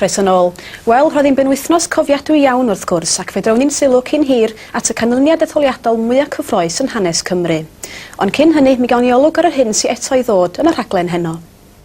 Croeso yn ôl. Wel, roedd hi'n benwythnos cofiadwy iawn wrth gwrs, ac fe drawn ni'n sylw cyn hir at y canlyniad etholiadol mwyaf cyffroes yn hanes Cymru. Ond cyn hynny, mi gawn ni olwg ar yr hyn sy'n eto i ddod yn y rhaglen heno.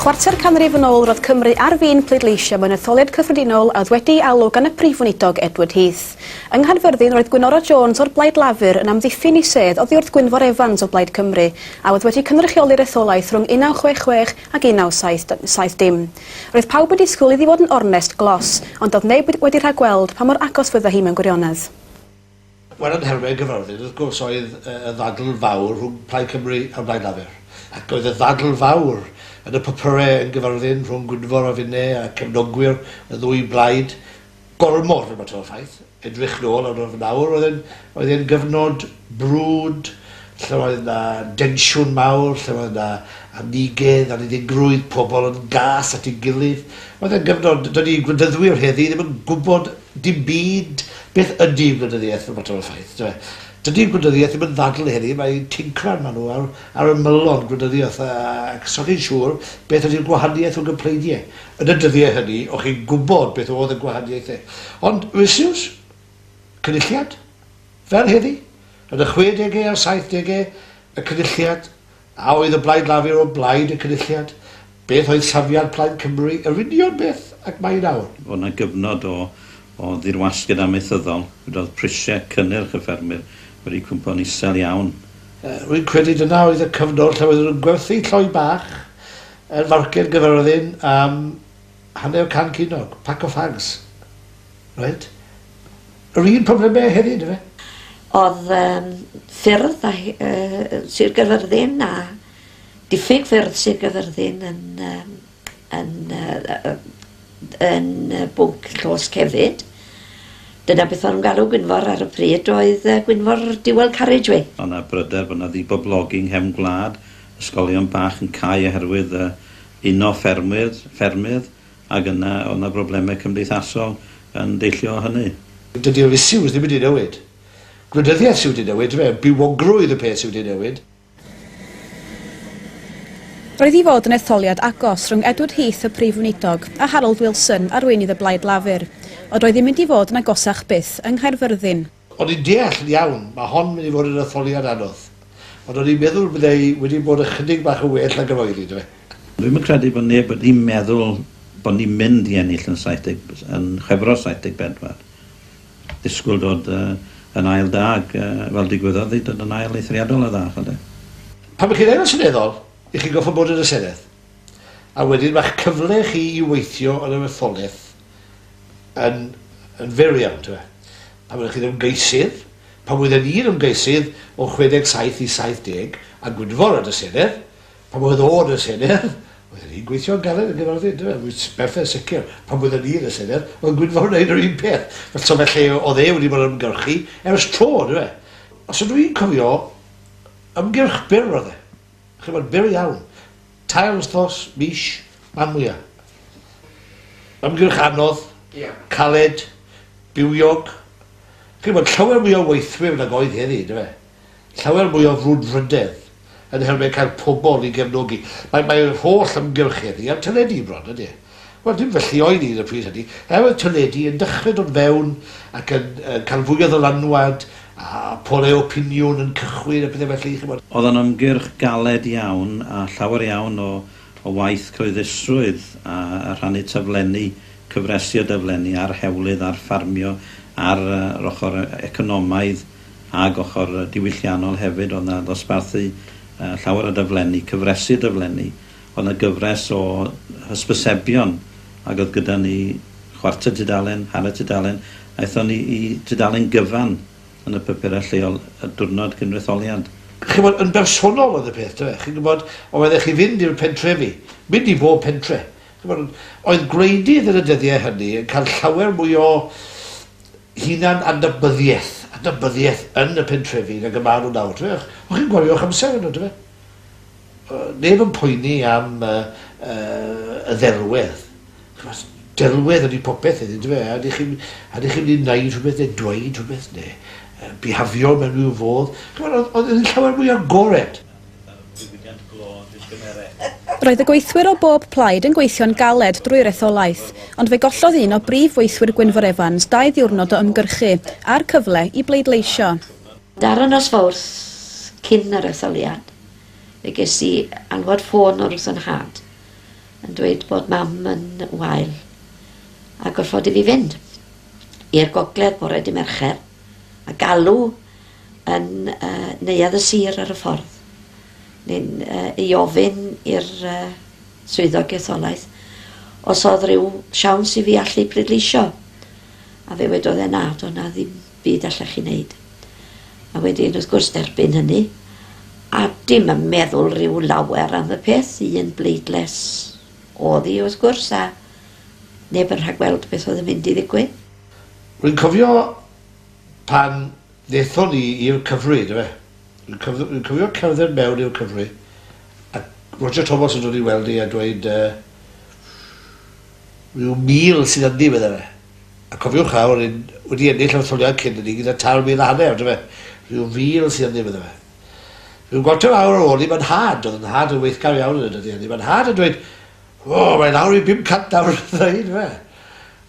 Chwarter canrif yn ôl roedd Cymru ar fin pleidleisio mewn etholiad cyffredinol a oedd wedi'i alw gan y Prif Weinidog Edward Heath. Yng Nghaerfyrddin roedd Gwynora Jones o'r Blaid Lafur yn amddiffyn i sedd oddi wrth Gwynfor Evans o Blaid Cymru a oedd wedi cynrychioli'r etholaeth rhwng 1966 ac 1970. Roedd pawb yn disgwyl iddi fod yn ornest glos ond doedd neb wedi rhagweld pa mor agos fydde hi mewn gwirionedd. Wel yn nhermau gyfarwydd wrth gwrs oedd y ddadl fawr rhwng Plaid Cymru a Blaid Lafur ac oedd y ddadl fawr yn y papyrau yn gyfarwyddyn rhwng Gwynfor a finne a cefnogwyr y ddwy blaid gormod yn mater o ffaith. Edrych nôl ar yr awr oedd e'n oedd e'n gyfnod brwd lle oedd na densiwn mawr, lle oedd na amiguedd, anniddigrwydd, pobl yn gas at ei gilydd. Oedd e'n gyfnod, dydy gwleidyddwyr heddi ddim yn gwybod Dim byd. Beth ydy gwleidyddiaeth? No matter of faith, yndyw e? Dydy gwleidyddiaeth ddim yn ddadl heddi, mae tincran maen nhw ar, ar ymylon gwleidyddiaeth a, ac os o'ch chi'n siŵr beth ydy'r gwahaniaeth o gympleidie yn y dyddiau hynny, o'ch chi'n gwybod beth oedd y gwahaniaethau. Ond, Wisiws? Cynulliad? Fel heddi? Yn y chwe degau a'r saith degau, y Cynulliad A oedd y Blaid Lafur o blaid y Cynulliad? Beth oedd safiad Plaid Cymru? Yr union beth ag mae nawr. Oedd 'na gyfnod o o ddirwasgiad amaethyddol, lle oedd prisiau cynnyrch y ffermwyr wedi cwympo'n isel iawn. Rwy'n credu dyna oedd y cyfnod lle oedden nhw'n gwerthu lloi bach yn Farched Gyffyrddin am Hanner can ceunnog, pack of fags. Reit. Yr un problemau hefyd, efe? Oedd um, ffyrdd a, uh, Sir Gyfyrddin a diffyg ffyrdd Sir Gyfyrddin yn, um, yn, uh, yn uh, bwnc llos cefyd. Dyna beth o'n galw Gwynfor ar y pryd oedd uh, Gwynfor Dual Carriageway. Ond na bryder bod yna ddiboblogi yng nghefn gwlad, ysgolion bach yn cau oherwydd uh, Uno ffermwyr, ffermydd, ac yna oedd yna broblemau cymdeithasol yn deillio o hynny. Dydy'r issues ddim wedi newid. Gwleidyddiaeth sy wedi newid, dyfe, bywogrwydd y peth sy wedi newid. Roedd i fod yn etholiad agos rhwng Edward Heath, y Prif Weinidog, a Harold Wilson, arweinydd y Blaid Lafur. Ond roedd hi'n mynd i fod yn agosach byth, yng Nghaerfyrddin. O'n i'n deall yn iawn, mae hon mynd i fod yn etholiad anodd, ond o'n i'n meddwl byddai wedi bod ychydig bach yn well nag yr oedd hi, do fe? Dwi'm yn credu bod neb wedi meddwl bod ni'n mynd i ennill yn 70, yn Chwefror 74. Disgwyl dod yn ail da, ac fel digwyddodd hi, dod yn ail eithriadol o dda, ch'od de. Pan mae chi'n Aelod Seneddol, y'ch chi'n gorfod bod yn y Senedd, a wedyn mae'ch cyfle chi i weithio yn yr etholaeth yn, yn fyr iawn, ti'n meddwl. Pan oeddech chi'n ymgeisydd, pan oedden i'n ymgeisydd o 67 i 70 a Gwynfor yn y Senedd, pan oedd o yn y Senedd, oedden ni'n gweithio'n galed yn gyfarfod, dwi'n meddwl, berffaith sicr, pan oedden ni yn y Senedd, oedd Gwynfor yn neud yr un peth. Fel so felly, oedd e wedi bod yn ymgyrchu ers tro, dwi'n meddwl. Os ydw i'n cofio, ymgyrch byr oedd e. ch'mod, byr iawn. Tair wthnos, mis, man mwya. Ymgyrch anodd, caled, bywiog. Ch'mod, llawer mwy o weithwyr nag oedd heddi, yndyfe? fe? Llawer mwy o frwdfrydedd yn helmed cael pobl i gefnogi. Mae, mae'r holl ymgyrch heddi ar teledu bron, ydy e? Wel, dim felly oedd hi yn y pryd hynny. Er oedd teledu yn dechrau dod fewn ac yn uh, cael fwy o ddylanwad a polau opiniwn yn cychwyn a pethau felly, chymod. Oedd o'n ymgyrch galed iawn a llawer iawn o, o waith cyhoeddusrwydd a, a rhannu taflenni, cyfresi o daflenni ar hewlydd, ar ffarmio, ar uh, yr ochr economaidd ag ochr diwylliannol hefyd. Oedd na ddosbarthu uh, llawer o daflenni, cyfresi o daflenni. Oedd 'na gyfres o hysbysebion ac oedd gyda ni chwarter tudalen, hanner tudalen. Aethon ni i dudalen gyfan yn y papurau lleol y diwrnod gynrytholiad. Chi'n gwybod, yn bersonol oedd y peth, dyfe? Chi'n gwybod, oeddech chi fynd i'r pentrefi, mynd i bob pentre. Chi'n gwybod, oedd gwleidydd yn y dyddiau hynny yn cael llawer mwy o hunan-adnabyddiaeth, adnabyddiaeth yn y pentrefi nag y maen nhw nawr, dyfe? O'ch chi'n gwario eich amser yno, dyfe? Neb yn poeni am y ddelwedd. Chimod, delwedd ydy popeth heddiw, yndyfe? A ydych chi'n ydych chi'n mynd i wneud rhywbeth neu dweud rhywbeth neu uh, bihafio mewn rhyw fodd? Chimod, oedd, oedd yn llawer mwy agored. Roedd y gweithwyr o bob plaid yn gweithio'n galed drwy'r etholaeth, ond fe gollodd un o brif weithwyr Gwynfor Evans dau ddiwrnod o ymgyrchu a'r cyfle i bleidleisio. Dara nos Fawrth, cyn yr etholiad, fe ges i alwad ffôn o Ruth a Nhad yn dweud bod Mam yn wael a gorfodi fi fynd i'r gogledd bore dy Mercher a galw yn uh, neuadd y sir ar y ffordd neu'n uh, ei ofyn i'r uh, swyddog etholaeth os oedd rhyw siawns i fi allu pleidleisio a fe wedodd e na, doedd na ddim byd allech chi wneud. A wedyn wrth gwrs derbyn hynny a dim yn meddwl rhyw lawer am y peth, un bleidles oedd hi wrth gwrs a neb yn rhagweld beth oedd yn mynd i ddigwydd. Rwy'n cofio pan ddethon ni i'r Cyfrwy, yndyfe? Rwy'n cofio, rwy'n cofio cerdded mewn i'r Cyfrwy a Roger Thomas yn dod i weld ni a dweud, uh, Rhyw 1,000 sydd ynddi, medda fe. A cofiwch nawr, r'yn wedi ennill yr etholiad cyn hynny gyda tair mil a hanner, on'd yfe? Rhyw 1,000 sydd ynddi, medda fe. Rhyw gwantr fawr ar ôl 'ny, mae 'nhad, o'dd 'nhad yn weithgar iawn yn y dyddiau 'ny, mae 'nhad yn dweud, 'O, mae lawr i 500 nawr, medda hi, on'd yfe?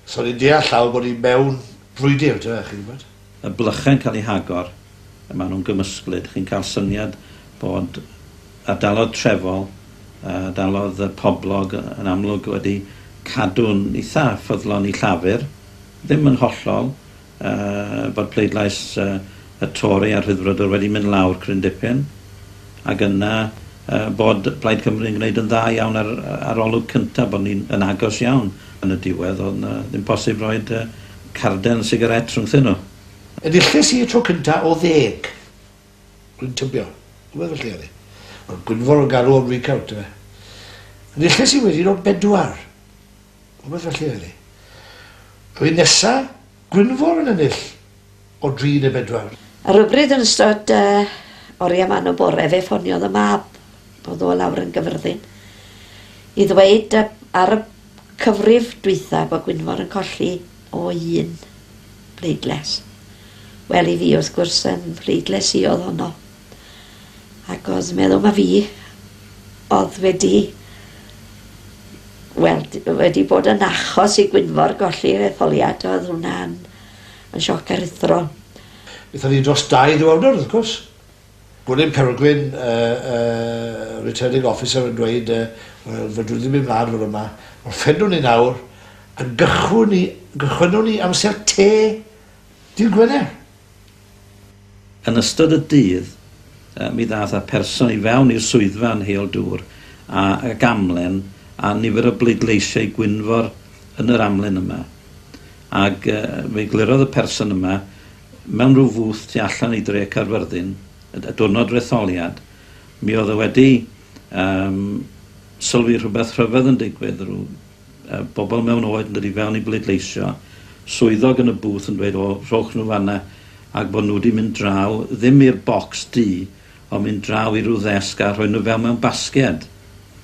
So ni'n deall nawr bod ni mewn brwydr, on'd yfe, chi'n gwybod. y blychau'n cael eu hagor, a maen nhw'n gymysglyd. Chi'n cael syniad bod ardaloedd trefol, ardaloedd poblog yn amlwg wedi cadw'n eitha ffyddlon i Llafur, ddim yn hollol, bod pleidlais y Tori a'r Rhyddfrydwr wedi mynd lawr cryn dipyn, ac yna bod Plaid Cymru yn gwneud yn dda iawn ar arolwg cyntaf, bod ni yn agos iawn yn y diwedd, oedd 'na ddim posib roed Carden sigarét rhwngthyn nhw. Enilles i y tro cyntaf o ddeg. Dwi'n tybio. Rhywbeth felly oedd hi. Wel, gwynfor o garw o'n recount yfe. Enilles i wedyn o bedwar. Rhywbeth felly oedd hi. A wedyn nesa, gwynfor yn ennill. o dri neu bedwar. Ar rybryd yn ystod yy oria man o bore fe ffoniodd y mab o'dd o lawr yn gyfyrddin i ddweud yy ar y cyfrif dwytha bo Gwynfor yn colli o un bleidles. Wel i fi wrth gwrs yn mhleidles i o'dd honno ac o'dd meddwl ma fi o'dd wedi wel wedi bod yn achos i Gwynfor golli yr etholiad o'dd hwnna'n Mae'n sioc aruthrol. Aethon ni dros dau ddiwrnod wrth gwrs. Gwilym Cereldwyn, y Returning Officer yn dweud, wel fedrwn ni ddim mynd mlaen fel yma, ond ffedrwn ni nawr, a gychwynwn ni amser te dydd Gwener. Yn ystod y dydd, mi ddaeth y person i fewn i'r swyddfa yn heol dŵr a ag amlen a nifer o bleidleisiau Gwynfor yn yr amlen yma. Ag fe eglurodd y person yma mewn rhyw fwth tu allan i dre Caerfyrddin y y diwrnod retholiad, mi oedd e wedi yym sylwi rhywbeth rhyfedd yn digwydd, rhyw bobl mewn oed yn dod i fewn i bleidleisio, swyddog yn y booth yn dweud o rhowch nhw fan'na ac bod nhw wedi mynd draw, ddim i'r bocs du, ond mynd draw i ryw ddesg a rhoi nhw fewn mewn basged.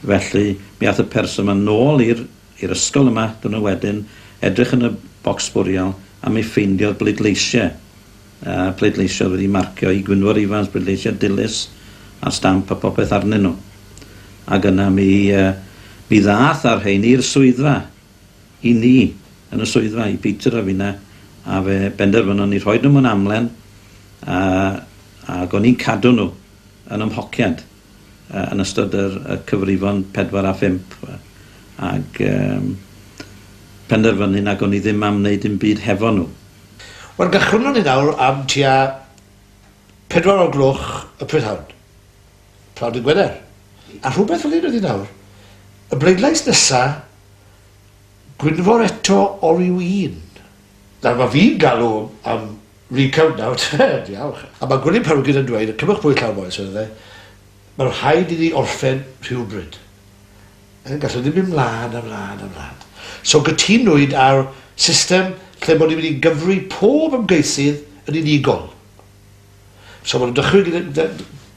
Felly mi ath y person 'ma nôl i'r i'r ysgol yma, dwrnod wedyn, edrych yn y bocs sbwriel a mi ffeindiodd bleidleisiau. a pleidleisio wedi marcio i Gwynfor Ifans pleidleisiad dilys a stamp a popeth arnyn nhw. Ac yna mi mi ddath a'r rhein i'r swyddfa i ni yn y swyddfa i Peter a finna a fe benderfynon ni rhoi nhw mewn amlen a ac o'n i'n cadw nhw yn ymhociad. yn ystod yr y cyfrifon pedwar a phump ag yym penderfynu nag o'n i ddim am wneud dim byd hefo nhw. Wel gychwynnon ni nawr am tua pedwar o'r gloch y prydhawn, pnawn dydd Gwener, a rhywbeth fel hyn ydi nawr, y bleidlais nesa, Gwynfor eto oliw un. Nawr mae fi'n galw am recount nawr te, diawch! A mae Gwilym Pawgyn yn dweud, cymwch bwyd llawn bois, medde fe, mae'n rhaid i ni orffen rhywbryd. Yn gallwn ni ddim mynd mlân a mlân a mlân. So gytunwyd ar system lle bod ni'n mynd i gyfri pob ymgeisydd yn unigol. So maen nhw'n dychwyn gyda,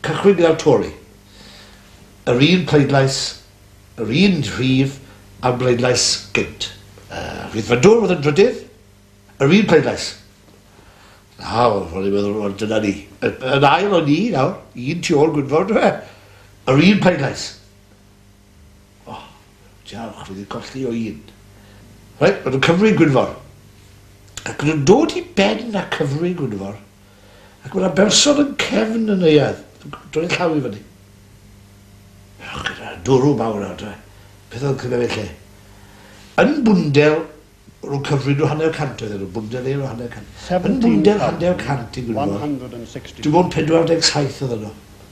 cychwyn gyda'r Tory. Yr un pleidlais Yr un rhif a'r bleidlais gynt. Y Rhyddfrydwr oedd yn drydydd. Yr un pleidlais. Nawr, ro'n i'n meddwl, wel, dyna ni. Yn ail o'n ni, nawr, un tu ôl Gwynfor, dwi e? Yr un pleidlais. O, oh, diolch, fi wedi colli o un. Rhaid, maen nhw'n cyfri Gwynfor. Ac nhw'n dod i ben a cyfri Gwynfor. Ac mae yna berson yn cefn y neuadd, yn droi llaw i fyny. Ewch gyda dwrw mawr adre. Beth oedd cyda fe lle? Yn bwndel, rwy'n cyfrin nhw hanner cant oedd nhw, bwndel eir o hanner cant. Yn bwndel hanner cant i Gwynfor. Dwi'n bod 47 oedd yno.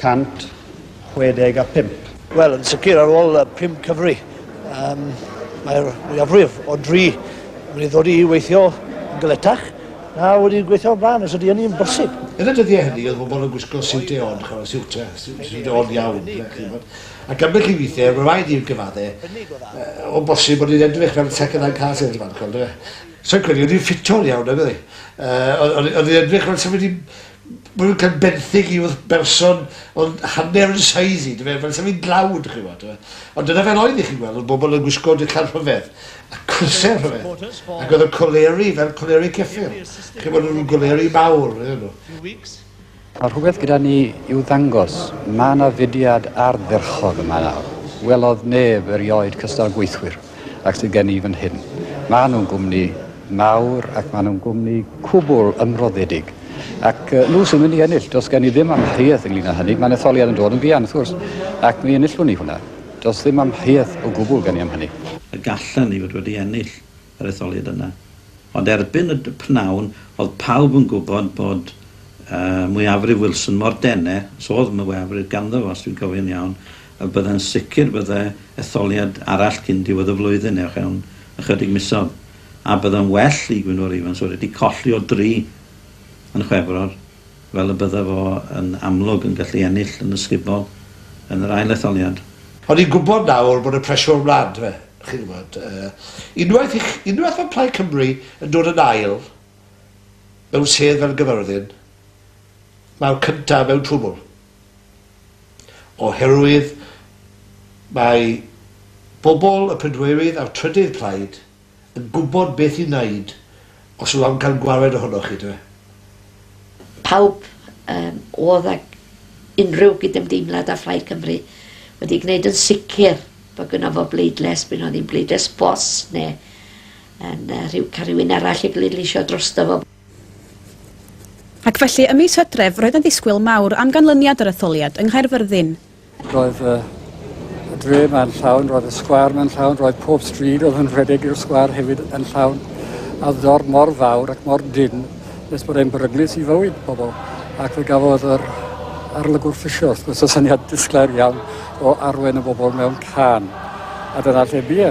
165. Wel, yn sicr ar ôl y pum cyfri, um, mae'r mwyafrif o dri wedi ddod i weithio yn gyletach na wedi gweithio o'r blaen, os ydy hynny'n bosib. Yn y dyddiau hynny, oedd bobl yn gwisgo siwt eon, chwarae siwt, siwt eon iawn. Ac am beth i weithiau, mae'n rhaid i'r gyfaddau, o bosib bod ni'n edrych fel second hand cars yn ymwneud. So'n credu, oedd ni'n ffito'n iawn, nag oedd ni? Oedd ni'n edrych fel sef wedi Mwy can benthyg i wrth berson ond hanner yn size i, dyfe, fel sa fi'n dlawd, chi wybod, dyfe. Ond dyna fel oedd i chi'n gweld, oedd bobl yn gwisgo dillad rhyfedd, a crysau rhyfedd, ac oedd y coleri fel coleri ceffyl, chi wybod, nhw'n goleri mawr, oedden nhw. Mae rhywbeth gyda ni i'w ddangos. Mae yna fudiad ardderchog yma nawr. Welodd neb erioed cystal gweithwyr. ac sydd gen i fan hyn. Maen nhw'n gwmni mawr ac maen nhw'n gwmni cwbl ymroddedig. Ac uh, nhw sy'n mynd i ennill, dos gen i ddim amheuaeth ynglyn â hynny. Mae'n etholiad yn dod yn fuan, wrth gwrs, ac mi enillwn ni hwnna. Dos ddim amheuaeth o gwbl gen i am hynny. Y gallan ni fod wedi ennill yr etholiad yna. Ond erbyn y pnawn, oedd pawb yn gwybod bod uh, mwyafrif Wilson mor dene, os oedd mwyafrif ganddo fo, os dwi'n cofio'n iawn, A byddai'n sicr byddai etholiad arall cyn diwedd y flwyddyn neu fewn ychydig misoedd. A byddai'n well i Gwynfor Evans fod wedi colli o dri yn Chwefror fel y byddai fo yn amlwg yn gallu ennill yn ysgubol yn yr ail etholiad. Ond ni'n gwybod nawr bod y pressure mlan, dyfe? Chi'n gwybod, unwaith i chi, unwaith mae Plaid Cymru yn dod yn ail mewn sedd fel Gyfyrddin, mae'r cyntaf mewn twbl. oherwydd mae pobl y pedwerydd a'r trydydd plaid yn gwybod beth i wneud os yw am cael gwared ohonoch chi, yndyfe? Pawb yym oedd ag unrhyw gydymdeimlad â Phlaid Cymru wedi gwneud yn sicr bod gynno fo bleidles, bu'n oedd hi'n bleidles ffos neu yn rhyw cael rhywun arall i bleidleisio drosto fo. Ac felly, ym mis Hydref, roedd yn ddisgwyl mawr am ganlyniad yr etholiad yng Nghaerfyrddin. Roedd y dre ma'n llawn, roedd y sgwâr ma'n llawn, roedd pob stryd oedd yn rhedeg i'r sgwâr hefyd yn llawn, a ddor mor fawr ac mor dyn nes bod e'n beryglus i fywyd pobl. Ac fe gafodd yr arlygwr ffisio, wrth gwrs, y syniad disglair iawn o arwen y bobl mewn can. A dyna lle bie.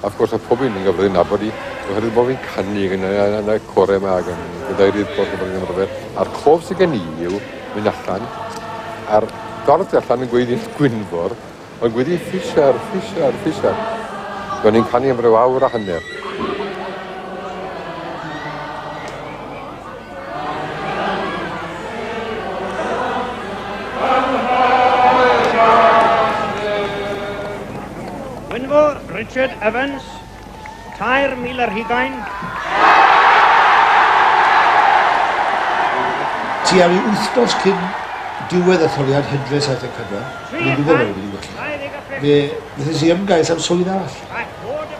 Wrth gwrs mae pob un yn gyfrifol nabod i oherwydd bod fi'n canu yn y, yn y core yma ac yn gadeirydd pwll yn bod yn A'r cof sydd gen i yw mynd allan a'r dorth allan yn gweiddi Gwynfor yn gweiddi ffisiar, ffisiar, ffisiar. Do'n i'n canu am ryw awr a hanner. Gwynfor Richard Evans, 3,000 ar hugain. Tua rhyw wythnos cyn diwedd etholiad hydre 74, ni'n gwybod bod wedi gwella. Fe wnaethais i ymgais am swydd arall.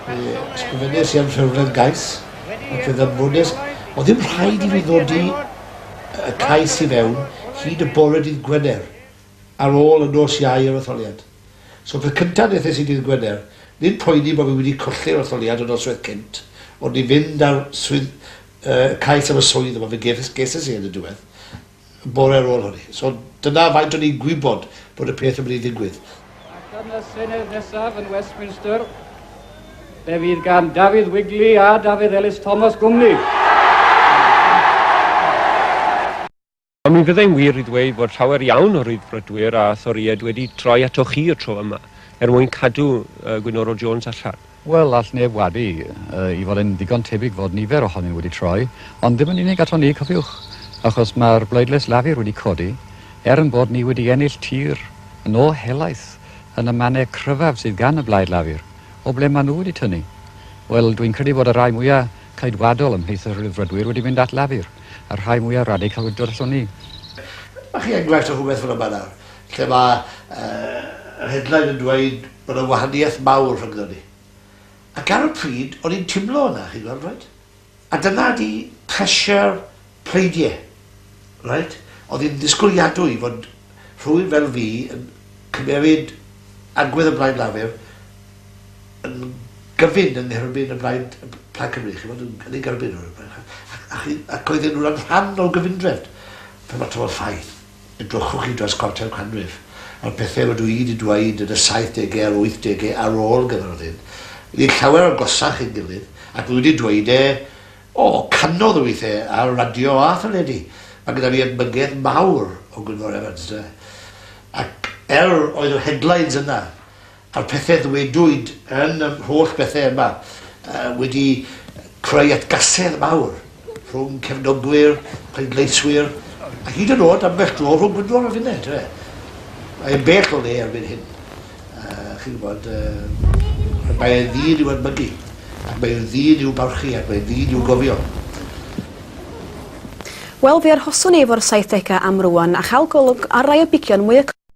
Fe ysgrifennes i am rhywledd gais, Ond fe ddyfodais o ddim rhaid i fi ddod i y cais i fewn hyd y bore dydd Gwener ar ôl y nos iau yr etholiad. So peth cynta nethes i dydd Gwener, nid poeni bo fi wedi colli'r etholiad y nosweth cynt, ond i fynd ar swydd, y cais am y swydd yma fe gefes, geses i yn y diwedd. y bore ar ôl hynny. So dyna faint o'n i'n gwybod bod y peth yn mynd i ddigwydd. Ac yn y Senedd nesaf yn Westminster, fe fydd gan Dafydd Wigley a Dafydd Elis Thomas gwmni. Ond mi fyddai'n wir i ddweud fod llawer iawn o Ryddfrydwyr a Thorïaid wedi troi atoch chi y tro yma, er mwyn cadw Gwynoro Jones allan. Wel, all neb wadu i fod e'n ddigon tebyg fod nifer ohonyn nhw wedi troi, ond ddim yn unig aton ni, cofiwch, achos mae'r bleidlais Lafur wedi codi, er ein bod ni wedi ennill tir yn ôl helaeth yn y mannau cryfaf sydd gan y blaid Lafur, o ble maen nhw wedi tynnu? Wel, dwi'n credu bod y rhai mwyaf ceidwadol ymhlith y Rhyddfrydwyr wedi mynd at Lafur, a'r rhai mwyaf radical wedi dod aton ni. Mae chi enghraifft o rhywbeth fel yma nawr. lle mae yr headline yn dweud bod yna wahaniaeth mawr rhyngddon ni. Ac ar y pryd, o'n i'n timlo hwnna, chi'n gweld, reit? A dyna di pressure pleidiau, reit? Oedd hi'n ddisgwyliadwy fod rhywun fel fi yn cymeryd agwedd y Blaid Lafur yn gyfyn yng ngherbyn y Blaid Plaid Cymru, chi'n gweld, yn ei gerbyn nhw. Ac oedden nhw'n rhan o'r gyfundrefn. Fel mae tymor ffaith. Edrychwch i dros cwarter canrif ar bethau rydw i wedi dweud yn y saithdegau a'r wythdegau ar ôl Gaerfyrddin, wedi llawer agosach ein gilydd, ac wi wedi dweud e, o, cannoedd o weithiau ar radio a theledu. Mae gyda fi edmygedd mawr o Gwynfor Evans, ynde. Ac, er, oedd yr headlines yna. a'r pethe ddwedwyd yn yr holl bethe yma yy wedi creu atgasedd mawr rhwng cefnogwyr, pleidleiswyr, a hyd yn o'd ambell dro rhwng Gwynfor a finne, yndyw e? Mae e'n bell o le erbyn hyn. Uh, chi'n gwybod, uh, mae e'n ddyn i'w admygu, ac mae e'n ddyn i'w barchu, ac mae e'n ddyn i'w gofio. Wel, fe arhoswn i efo'r 70au am rwan, a chael golwg ar rai o bigion mwy y